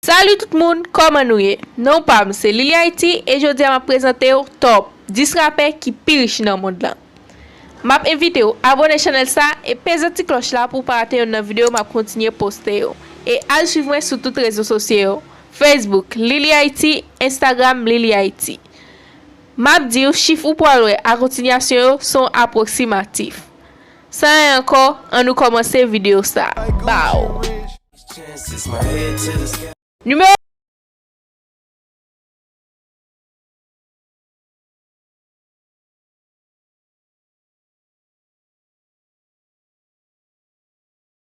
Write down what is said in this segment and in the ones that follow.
Salut tout moun kòman nou ye non pam se Lili Haïti e jodia map prezantew top 10 rapè ki pi rich nan mond lan map envitew abone chanèl sa e peze ti klòch la pouw pa rate yonn nan video map kontinye poste yo e al swiv mwen sou tout rezo sosye yo Facebook Lili Haïti Instagram Lili Haïti map diw chif ou pwal wè a kontinyasyon yo son aproximatif. San ren ankò an nou kòmanse video sa baww. Numéro.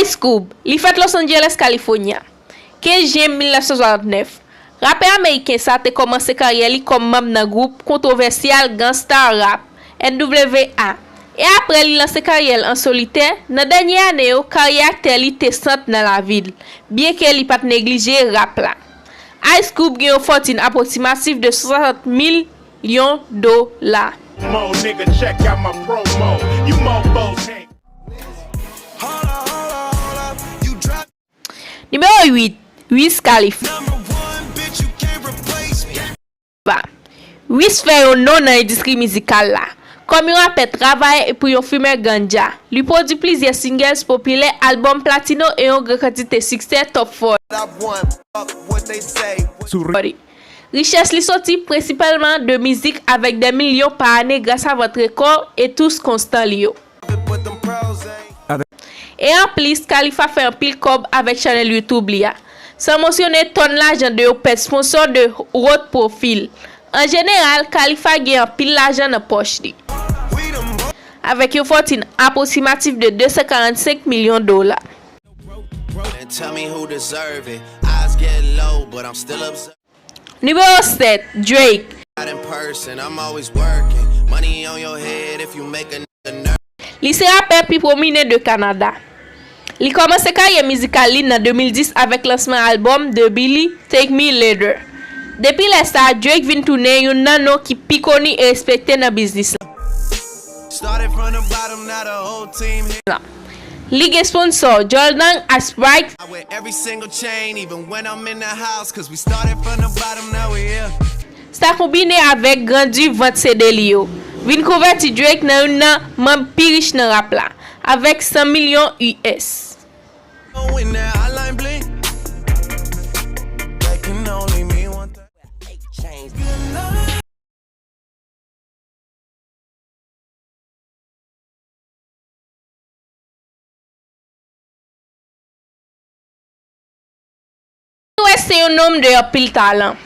Ice Cube, li fèt Los Angeles, California, 15 Jen 1969, rapè ameriken sa te kòmanse karyè li kòm manb nan gwoup kontwovèsyal Gang Starr Rap, NWA, e aprè li lanse karyè l an solitè, nan dènye ane yo karyè aktè li te sant nan lavi l, byenke li pat neglije rap la. Ice Cube gen yon fòtin apwoksimatif de 60 milyon dola. Nimewo 8, Wiz Khalifa Wiz fè yon non nan endistri mizikal la. Kòm yon rapè travayè epi yon fimè ganja, li pwodui plizyè singles popilè, albòm platino e yon gran kantite siksè Top 40. Richès li soti prensipalman de mizik avèk dè milyon pa ane grasa vant rekò e tous konstan li yo. E anplis, Khalifa fè anpil kòb avèk chanèl YouTube li a. San monsyone tòn lajan de yo pèd sponsor de haut profil. An jeneral, Khalifa gen anpil lajan nan pòch li. Avèk yon fòtin apwoksimatif de 245 milyon dola. Nimewo 7, Drake. Li se rapè pi pwominen de Kanada. Li kòmanse karyè mizikal li nan 2010 avèk lansman albòm The Billy, Take Me Later. Depi lè sa, Drake vin tounen youn nan non ki pi koni e respekte nan biznis la. Li gen sponsò, Joldang ak Sprite. Sa konbine avèk grandi vant CD li yo, vin konvèti Drake nan youn nan manb pi rich nan rap la, avèk 100 milyon US. Kanye West se yon nonm de anpil talan.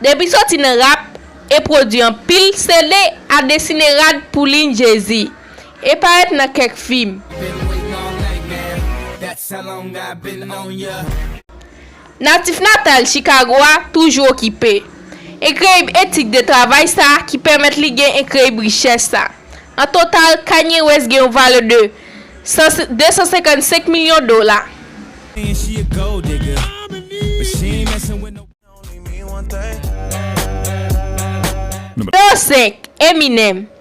Depi soti nan rap e pwodwi anpil CD a desine rad pou liy Jay-Z e parèt nan kèk fim. Natif natal Chikago a toujou okipe. Enkreyib etik de travay sa ki pèmèt li gen enkreyib richès sa. An total, Kanye West gen yon valè de 255 milyon dola. N°5, Eminem,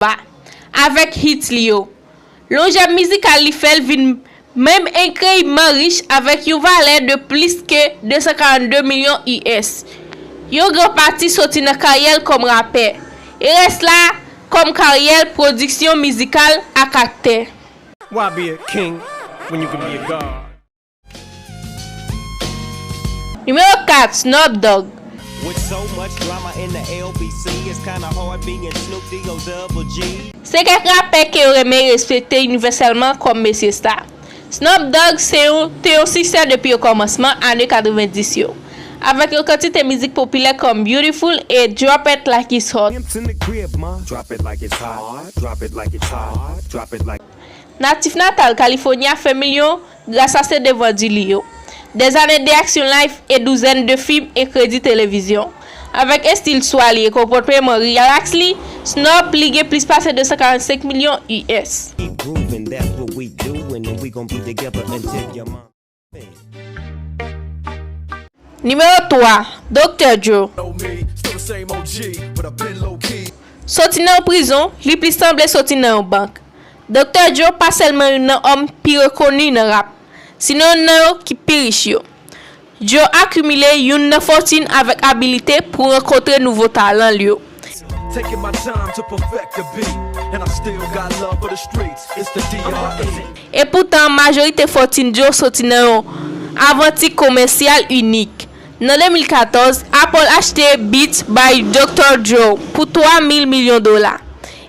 Ba. Avèk hits li yo. Lonjè mizikal li fè l vin menm enkreyibman rich avèk yon valè de plis ke 242 milyon US. Yon gran pati soti nan karyè l kòm rapè, e rès la kòm karyè l pwodiksyon mizikal ak aktè. Wap ye king when you can be a god. Nimewo 4, Snoop Dogg. Se kèk rapè ke yo renmen respekte inivèsèlman kòm mesye sta. Snoop Dogg se yon te yon siksè depi okòmansman ane 90 yo, avèk yon kantite mizik popilè kòm Beautiful e Drop It Like It's Hot. Natif natal California, Femilyou Gras a se devan di li yo, dèzane de aksyon live e douzèn de fim e kredi televizyon, avèk estil swa li e konpòtman rilaks li, Snoop li gen plis pase 245 milyon US. Nimewo 3, Doktè Dre. Soti nan yon prizon, li plis sanble soti nan yon bank. Doktè Djo pa sèlman youn nan òm pi rekoni nan rap, sinon youn nan yo ki pi rich yo. Djo akimile youn nan fòtin avèk abilite pou rankontre nouvo talan l yo. E poutan majorite fòtin Djo soti nan yon avanti komèsyal inik. Nan 2014, Apple achte Beats by Doktè Djo pou 3 mil milyon dola.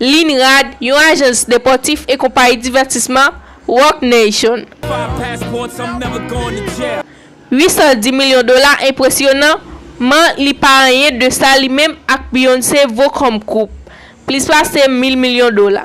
Linrad, yon ajans depòtif e konpayi divètisman Roc Nation. 810 milyon dola enpresyonan man li pa anyen de sa li menm ak Beyoncé vo kòm koup, plis pase 1000 milyon dola.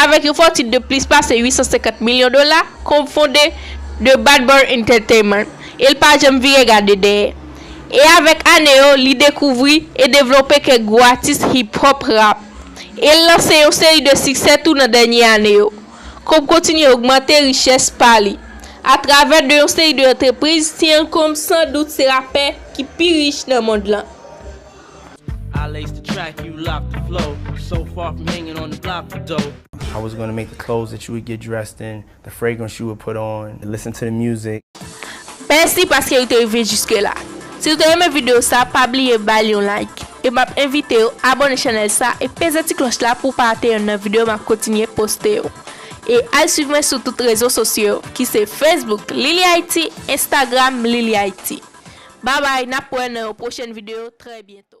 Avèk yon fòtin de plis pase 850 milyon dola, Combs fonde The Bad Boy Entertainment e l pa janm vire gade dèyè. E avèk ane yo, li dekouvri e devlope kèk gwo atis hip hop, rap. E l lanse yon seri de siksè tou nan dènye ane yo. Combs kontinye ogmante richès pa li atravè de yon seri de antrepriz. Sean Combs san dout se rapè ki pi rich nan mond lan. Mèsi paske ou te rive jiske la. Si ou te renmen video sa pa bliye bal yon like. E map envitew abone chanel sa e peze ti kloch la pouw pa rate yonn nan video map kontinye poste yo. E al swiv mwen sou tout rezo sosyo yo ki se Facebook Lily Haiti Instagram Lily Haiti. Babay nap wè nan yon pwochèn video trè byento.